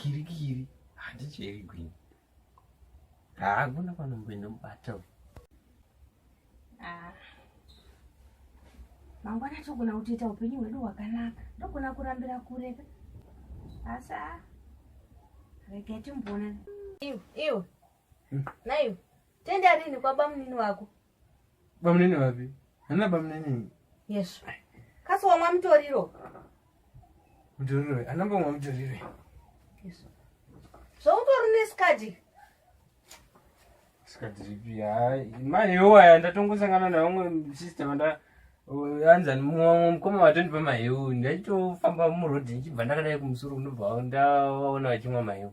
kirikiri handicheri gwini haakuna kwanomboenda mubata uyu ah. mangwana togona kutoita upenyu hwedu hwakanaka ndogona kurambira kureka asi a ah, rega timboona iwe iwe hmm. naiwe tenda rini kwabamunini wako Bamunini vapi? Hana bamunini. Yes. Kasi wamwa mutoriro? Mutoriro we. Anamba wamwa mutoriro. Yes. So utori ne skadi? Skadi ripi? Hai, mai yo aya ndatongosangana na vamwe sister vanda anza mumwe mukoma vatondipa mahewu ndaitofamba muroad ndichibva ndakadai kumusoro kunobva ndaona vachimwa mahewu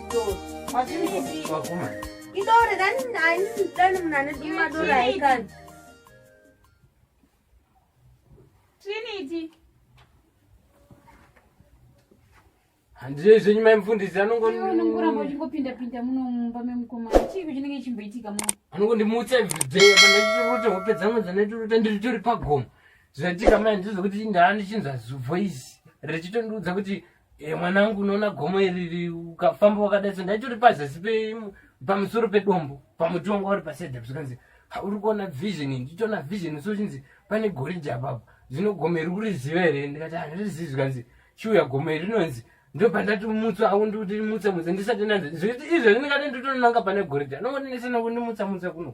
idore dani dani dani munane duma dora aikani trinity handizvo izvenyu mai mufundisi anongonongoramba uchingopinda pinda muno mumba memukomana chii kuchinenge chimboitika mu anongondimutsa everyday pandaitirota hope dzangu dzandaitirota ndiri tori pagomo zvaitika mai ndizvo kuti ndaani chinzwa zubvo izi richitondiudza kuti e mwanangu unoona gomo iri ukafamba wakadai so ndaitori pazasi pamusoro pedombo pamuti wanga uri paside zvikanzi uri kuona vision ndichiona vision so chinzi pane goriji apapo zvino gomo iri kuriziva here ndikati handirizivi zvikanzi chiuya gomo iri rinonzi ndo pandati mutsa aku ndikuti mutsa mutsa ndisati ndanzi izvezvi ndikati nditoninanga pane goriji anongondinesana kundimutsa mutsa kuno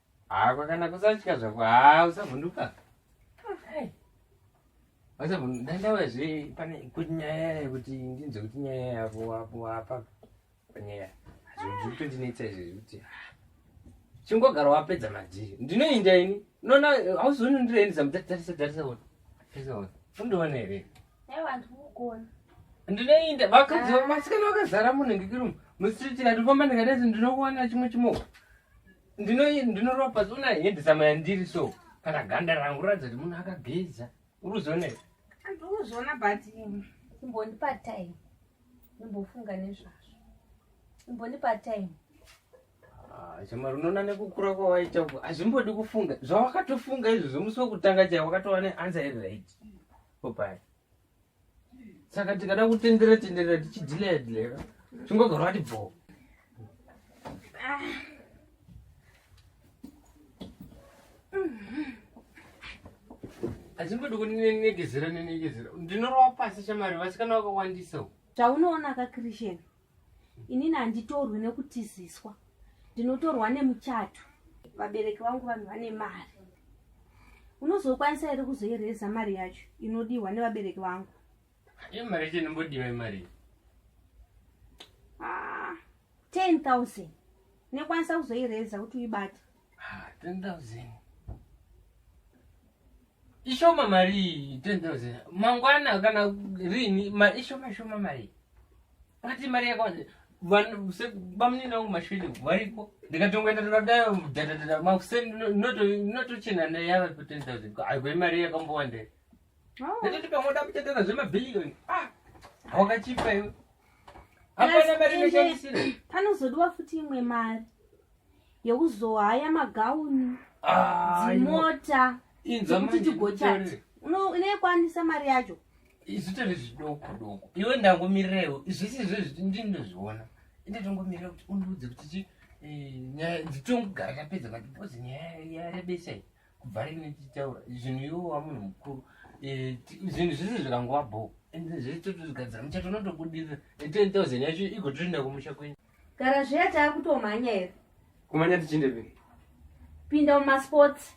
haa kwakana kusatya zvako haa usavhunduka usavhunduka ndauya zve pane kuti nyaya yekuti ndinzwe kuti nyaya yako wapo wapa panyaya zvekutondinetsa izvi zvekuti chingogara wapedza madhiri ndinoinda ini unoona hauzioni ndiroendesa mutarisa tarisa ona tarisa ona undiona here ndinoinda vakadzi vasikana vakazara munhu ngekirumu musititi ndikufamba ndikadai ndinokuwana chimwe chimoko ndinoropa so unahendisama yandiri so kana ganda rangu ratidza kuti munhu akageza uri kuzona i ndikuzona but um, imbondipa time imbofunga nezvazvo imbondipa time ah, chamari unoona nekukura kwawaita uko hazvimbodi kufunga zvawakatofunga izvozvo musi wekutanga chai wakatova neansa iri right popaya saka tikada kutendera tendera tichidhileya dhileya chingogara wati bvoo hachingodi kunenegezera nenegezera ndinorova pasi chamari vasikana vakawandisa chaunoona ka christian inini handitorwi nekutiziswa ndinotorwa nemuchato vabereki vangu vanhu vane mari unozokwanisa here kuzoireza mari yacho inodiwa nevabereki vangu imari yacho inombodiwa imari ah, ten thousand nekwanisa kuzoireza kuti uibate Ah, 10,000. Ishoma mari 10,000. Mangwana kana rini mari ishoma shoma mari. Pati mari yako vanhu se bamunina wangu mashwidi variko ndikatongoenda ndikadai dadadada makuseni notochena neyava pa 10000 aigoi mari yakambowanda oh. ndototi pamwe oda kutetera zvemabhiliyoni ah, wakachipa iwe hapana mari inoshandisira panozodiwa futi imwe mari yekuzohaya magauni ah, dzimota kuti tigochati unoikwanisa mari yacho izvitori zvidoko doko iwe ndangomirirewo zvisi izvozvi ndinozviona ende tongomirira kuti undiudze kuti chi eh, nyaya dzitongogara tapedza mati because nyaya yarebesa iyi kubva rini tichitaura zvinhu iwo wamunhu mukuru eh, zvinhu zvese zvikangova bho ende zvese totozvigadzira muchato unotobudirira ten thousand yacho igotoenda kumusha kwenyu Gara zviya taakutomhanya here? Kumhanya tichinde pe? Pinda mumasports.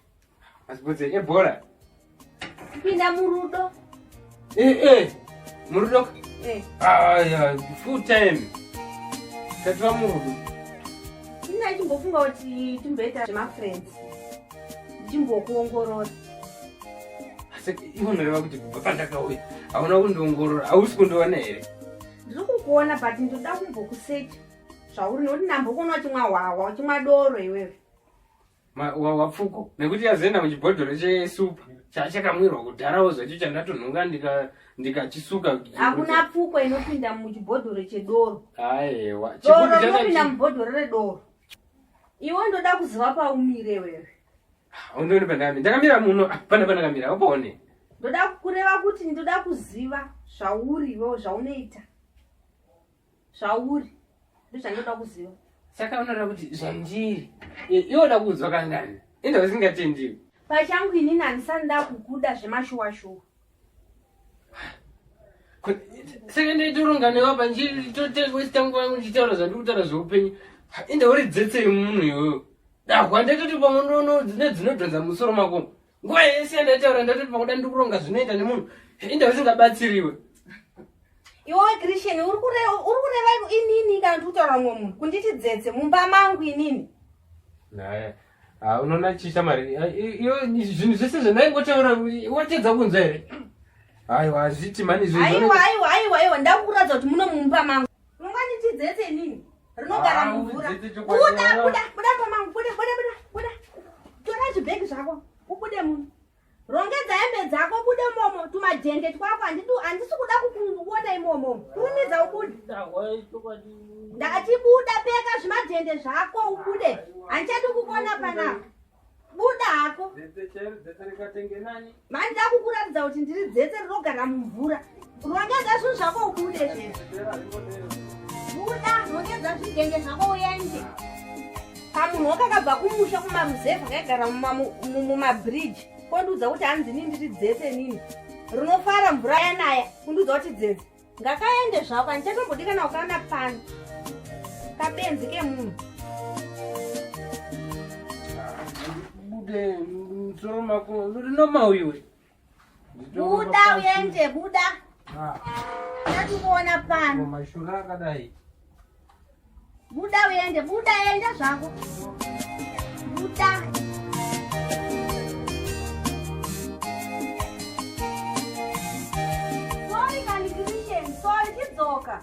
Masports ebhora? Eh, Pinda murudo. Eh eh. Murudo? Eh. Ah yeah, full time. Tatwa murudo. Ina chimbofunga kuti timboita zvemafriends. Chimbokuongorora. Asi ivo noreva kuti kubva pandakauya hauna kundiongorora hausi kundiona here? ndiri kukuona but ndoda kumbokusecha zvauri nokuti nambo kuona uchimwa hwahwa uchimwa doro iwewe wapfuko nekuti yazoenda muchibhodhoro chesupa chachakamwirwa kudharawo zvacho chandatonhunga ndikachisuka hakuna pfuko inopinda muchibhodhoro chedoro aewa doro inopinda mubhodhoro redoro iwe ndoda kuziva paumire wewe Undione pandami. Ndakamira muno hapana pandakamira. Upone. Ndoda kureva kuti ndoda kuziva zvauri iwewe zvaunoita. Zvauri. Ndozvandoda kuziva. Saka unoda kuti zvandiri. Iwe unoda kunzwa kangani? Enda usingatendiwi. Pachangu inini handisani ndakukuda zvemashuwa shuwa. saka ndaitoronga newe apa ndichitotewesta nguva yangu ndichitaura zvandikutaura zveupenyu ende uri dzetsei munhu iyoyo dahwa ndaitoti pamwe nono dzine dzinodhonza musoro mako nguva yese yandaitaura ndaitoti pakuda ndikuronga zvinoita nemunhu ende usingabatsiriwe iwowe christian uri kureva inini kana ndikutaura mumwe munhu kunditi dzetse mumba mangu inini naya Ah, unoona chii shamari ah, iyo zvinhu zvese zvandaingotaura watedza kunzwa here aiwa hazviti mani aiwa aiwa aiwa aiwa ndakukuratidza kuti muno mumba mangu unganditidzetse nini rinogara ah, mumvura buda buda buda pamangu buda buda buda buda tora zvibhegi zvako ubude muno rongedza hembe dzako bude momo tumajende twako handisi kuda kukuona imomo kurumidza ubude ndatibuda peka zvimajende zvako ubude handichadi kukuona panapa buda hako mandi ndakukuratidza kuti ndiri dzetse rinogara mumvura Rongedza zvinhu zvako ubude zvezvi. Buda, rongedza zvidenge zvako uende. Pamunhu wakakabva kumusha kumamuzevha kaigara mumabridge kondiudza kuti hanzi nini ndiri dzese nini. Runofara mvura yanaya kundiudza kuti dzese. Ngakaende zvako handichatombodikana kukana pano. Kabenzi kemunhu. Bude, msoro mako, noma uyu. buda uende buda tatimuona pano mashura akadai buda uende buda enda zvako buda sorry kani christian sorry chidzoka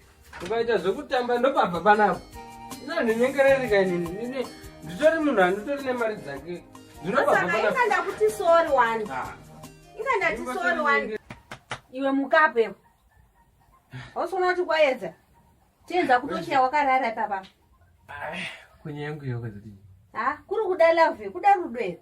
ukaita zvekutamba ndopabva panapo inandinyengererika inini nditori munhu anditori nemari dzake ndinopainga ndakuti sori wani ah. inga ndati sori wani iwe mukape ausona kuti kwayedza tienza kutochiya wakarara ipapa kunyangu yokwezati ha kuri kuda love kuda rudo here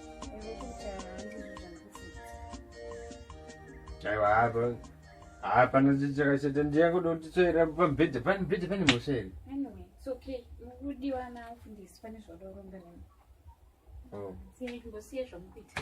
aiwa hapa hapana chichakashata ndiyakuda kuti tsvaira pamubhedha pane mubhedha pane mhosva here Anyway, it's okay. Mukudiwa na mfundisi pane zvauda kuromba nemi. Oh. Siyai kungosiya zvamukuita.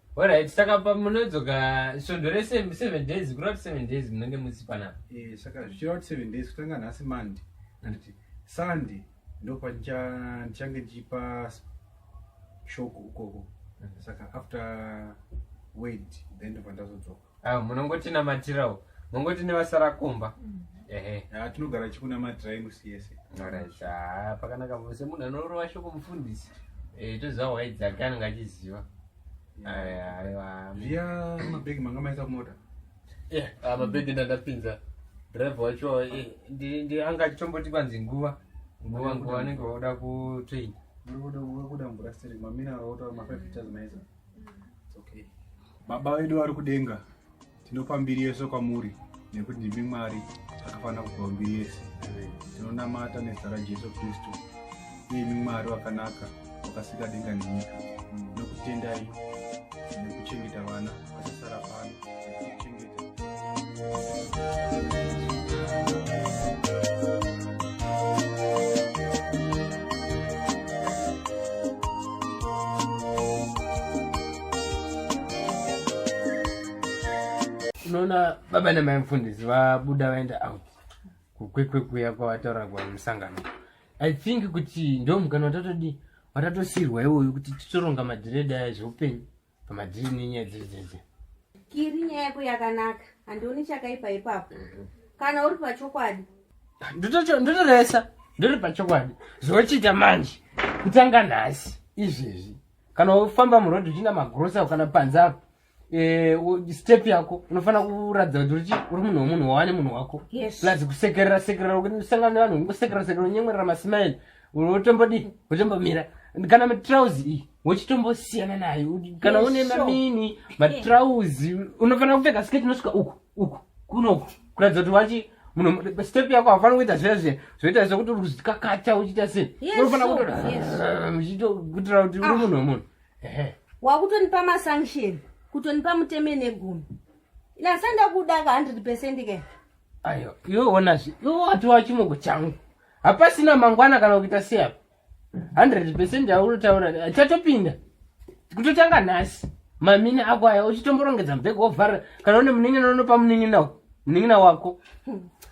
Alright, saka pamunodzoka svondo rese 7 days kurati 7 days munenge musi panapa. Eh, saka zvichirati 7 days kutanga nhasi Monday. Anditi Sunday ndopa ndichange ndichipa shoko ukoko. Mhm. Saka after wait then ndobva ndazodzoka. Ah, munongotinamatirawo mongoti nevasara kumba mm. ehe ah, tinogara chikunamatirai musi yese orit ah, pakanaka vose munhu anorova shoko mufundisi eh, toziva hwai dzake anenge achiziva zviya mabhegi manga maisa kumota eh, mabhegi ndandapinza drive wacho eh, anga achitomboti kwanzi nguva nguva nguva anenge vakuda kutrain kuda mvura siri mamina aotaura mafive meters maizaa Okay. Baba vedu vari kudenga, tinopa mbiri yese kwamuri nekuti ndimi Mwari akafanira kupiwa mbiri yese. Tinonamata nezita raJesu Kristu, iyemi Mwari wakanaka wakasika denga nenyika. Nokutendai nekuchengeta vana vakasasara pano. unoona baba namai mfundisi vabuda vaenda out kukwekwe kuya kwavataura kwamusangano i think kuti ndo mukana watatodi watatosirwa iwoyo kuti titoronga madhiredha ezveupenyu Kama dziri nenyaya dziri dzedze. Kiri nyaya yako yakanaka. Handioni chakaipa ipapo. Mhm. Kana uri pachokwadi. Ndotocho ndotoresa. Ndiri pachokwadi. Zvochita manje. Kutanga nhasi izvezvi. Kana ufamba muroad uchina magrosa kana panza apo. Eh, step yako unofanira kuratidza kuti uri uri munhu wemunhu wawane munhu wako yes. plus kusekerera sekerera usangana nevanhu ungosekerera sekerera unyemwerera masmile unotombodii utombomira kana matrauzi iyi wochitombosiyana nayo kana une mamini matrauzi unofanira kupfeka sketi inosvika uku uku kunoku kuratidza kuti wachi munhu step yako hafani kuita zviya zviya zvoita sokuti uri kuzikakata uchiita sei unofanira kutokuitira kuti uri ah. munhu wemunhu wakutonipa masanction kutonipa muteme negumi inasanda kuda ka hundred percent ke ayo iwe onazve iwe wati wachimoko changu hapasina mangwana kana kuita seapo 100 percent aunotaura achatopinda kutotanga nhasi mamini ako aya uchitomborongedza mbhega wovharira kana une munin'ina unopa munin'ina munin'ina wako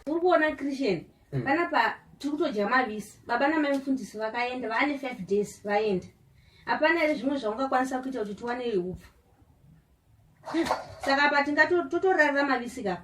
uri kuona christian hmm. panapa tiri kutodya mavisi baba namai mufundisi vakaenda vaane five days vaenda hapana here zvimwe zvaungakwanisa kuita kuti tiwane upfu saka apa tingatotorarira mavisi kapa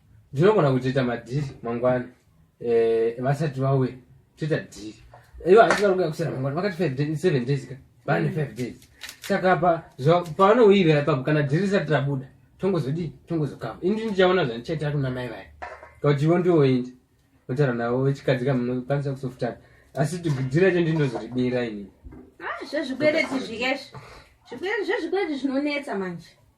ndinogona kutoita madhiri mangwana eh, vasati vawe toita dhiri ivo hanzi vari kuya kusera mangwana vakati five days seven days ka vane mm. five days saka pa pavanouirira ipapo kana dhiri risati rabuda tongozodii tongozokava indi ndichaona zvandichaitira kuna mai vaya kauti ivo ndivo indi otaura navo vechikadzi ka munokwanisa kusofutana asi dhiri racho ndinozoribira ini ah, zvezvikwereti zviyezvi zvikwereti zvezvikwereti zvinonetsa manje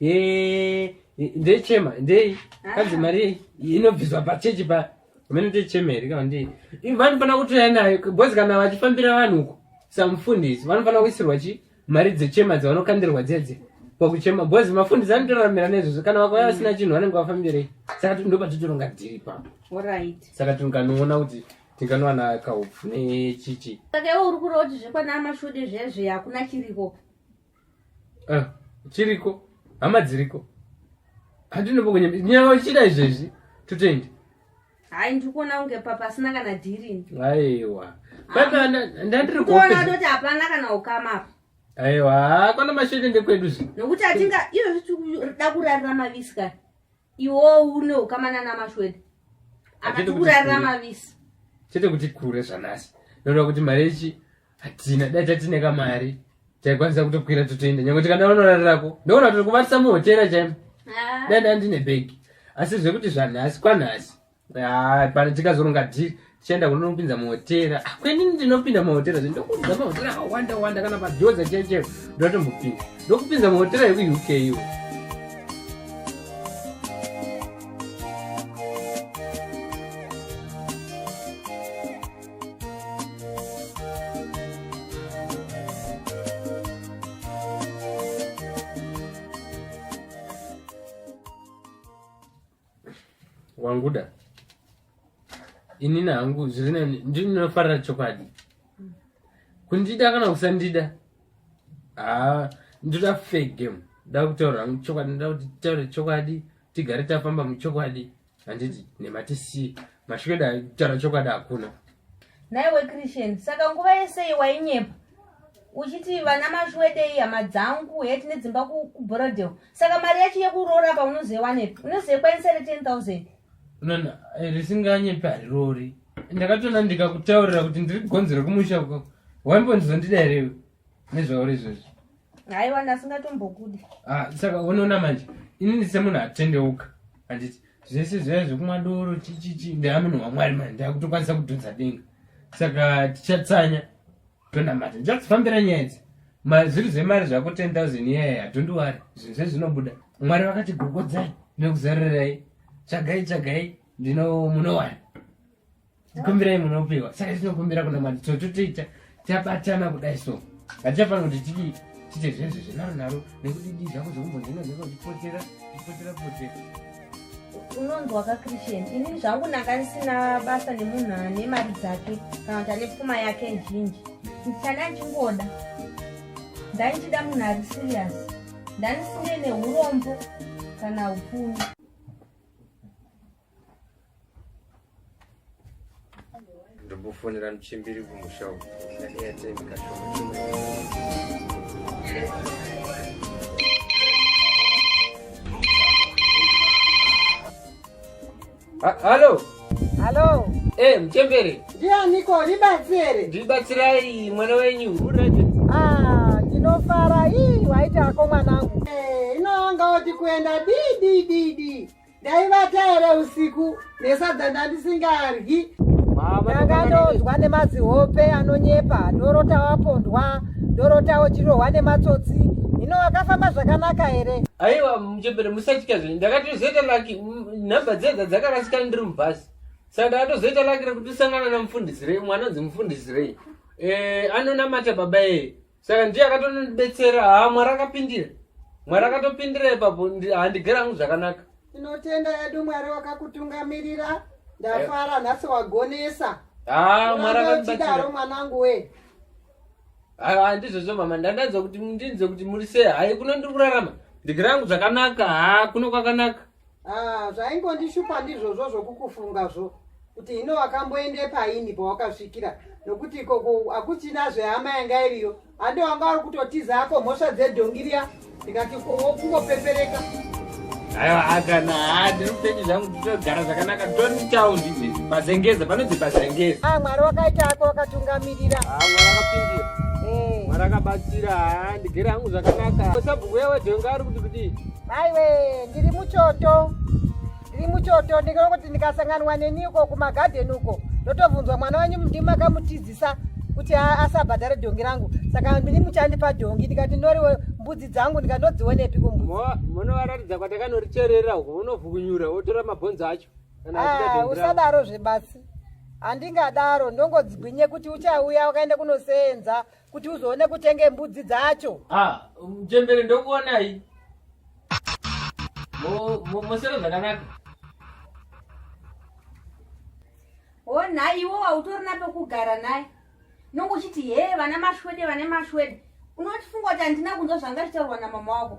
Eh, ndechema ndei ah. kanzi mari inobviswa pachechi pa mene ndechema here kana ndei vanofanira kutoya nayo bhozi kana vachifambira vanhu uko samufundisi vanofanira kuisirwa chi mari dzechema dzavanokandirwa dzedze pakuchema bhozi mafundisi anotoraramira nezvozvo kana vakauya mm. vasina chinhu vanenge vafambirei saka ndopatitoronga dhiri papo saka tinokanoona kuti tinganowana kaupfu nechichi saka iwe uri kureva kuti zvekwana mashude zvezve hakuna chiriko ah, chiriko hama dziriko handinobokunya nyaya ichida izvezvi totoenda hai ndiri kuona kunge papa asina kana dhirini aiwa papa ndandiri kuona kutoti hapana kana ukama apa aiwa kwana mashete ndekwedu zvi nokuti atinga izvozvi tikuda kurarira mavisi kani iwo une ukama nana mashwede akati kurarira mavisi chete kuti kure zvanasi ndoda kuti mari ichi hatina dai tatine kamari taikwanisa kutokwira totoenda nyange tikanda vanorarako ndoona kuti kuvatisa muhotera chaimo ah. dai ndandine bhegi asi zvekuti zvanhasi kwanhasi Ah, pano tikazoronga dhiri tichaenda kunonopinza mahotera ah, kwenini ndinopinda mahotera zve ndokudza mahotera akawanda wanda kana pajoza chaicheo ndotombopinda ndokupinza mahotera ekuuk iwo wanguda inini hangu zvirinani ndinofarira chokwadi kundida kana kusandida haa ndoda fair game ndoda kutaura hangu chokwadi ndoda kuti taure chokwadi tigare tafamba muchokwadi handiti nematisi mashweda kutaura chokwadi hakuna Naiwe Christian, saka nguva yese iyi wainyepa uchiti vana mashwede iyi hama dzangu heti nedzimba kuBorodale. Saka mari yacho yekuroora pa unozoiwanepi? Unozoikwanisa ere 10000? Nana, eh, risinganyepi harirori. Ndakatona ndikakutaurira kuti ndiri kugonzera kumusha uko. Waimbonzondida here nezvauri izvozvo? Haiwa ndasingatombokudi. Ah, saka unoona manje. Ini ndisemunhu atendeuka. Handiti? zvese zvaiva zvekumwa doro chichichi ndaamunhu wamwari mani ndakutokwanisa kudhonza denga saka tichatsanya tonamata ndichakufambira nyaya idzi mazviri zvemari zvako 10 000 iyaya hatondiwari zvinhu zvezvinobuda mwari vakati gogodzai nekuzarirai tsvagai tsvagai ndino munowani tikumbirai munopiwa saka tinokumbira kuna mwari tototoita tabatana kudai so hatichafana kuti tidi tite zvenzi zvenaro naro nekuti dii zvako zvekumbonzina zvinenge uchipotera uchipotera potera unonzi wakakristian inini zvangu ndanga ndisina basa nemunhu ane mari dzake kana kuti ane pfuma yake zhinji ndichanda ndichingoda ndaichida munhu ari serious ndandisine neurombo kana upfumi ndokufonera muchimbiri kumusha uku airtime kashoma Ha- halo Halo, e muchembere ndianiko ribatsire? ndibatsirai mwana wenyu urege Ah, ndinofara ii waita hako mwanangu. Eh, ino anga oti kuenda dii dii dii dii. ndaivata here usiku nesadza ndandisingaryi ndakandonzwa nemazihope anonyepa ndorota wapondwa ndorota wochirohwa nematsotsi hino wakafamba zvakanaka here aiwa muchembere musatya zvenyu ndakatozoita laki nhamba dzedza dzakarasikana ndiri mubhasi saka ndakatozoita laki rekuti usangana namufundisirei mwana anonzi mufundisirei eh, anonamata baba eye saka ndiye akatonondibetsera haa mwari akapindira mwari akatopindira ipapo handigera hangu zvakanaka tinotenda yedu mwari wakakutungamirira ndafara eh. nhasi wagonesa haa mwari akatidaro mwanangu wee handizvozvo mama ndandanzwa kuti ndinzwe kuti muri sei hai kuno ndiri kurarama ndigera hangu zvakanaka haa kuno kwakanaka Ah, zvaingondishupa ndizvozvo zvokukufunga zvo kuti hino wakamboende paini pawakasvikira nokuti ikoko hakuchina zvehama yanga iriyo hande wanga uri kutotiza ako mhosva dzedhongiriya ndikati kungopepereka aiwa akana haa ndiri kutenyi zvangu titogara zvakanaka toni town izvezvi pazengeza panonzi pazengeza a ah, mwari wakaita ako wakatungamirira a ah, mwari akapindira eh. mwari akabatsira haa ah, ndigere hangu zvakanaka sabhuku yawe dhonga ari kuti kudii aiwe ndiri muchoto ndiri muchoto ndikona kuti ndikasanganwa neni uko kumagadhen uko ndotobvunzwa mwana wenyu ndimi makamutizisa kuti asabhadhare dhongi rangu saka ndini muchandipa dhongi ndikati ndoriwo mbudzi dzangu ndikandodzionepi kumbuzimunovaratidza kwatakanoricherera uko unovhukunyura wotora mabhonzo acho ah, usadaro zvebasi handingadaro ndongodzigwinye kuti uchauya wakaenda kunoseenza kuti uzoone kutenge mbudzi dzacho ah, mchembere ndokuonai mosero zvakanaka o nhai iwo wautori na pekugara naye nonge uchiti hee vana mashwede vane mashwede unotifunga kuti handina kunzwa zvanga zvitaurwa na mama wako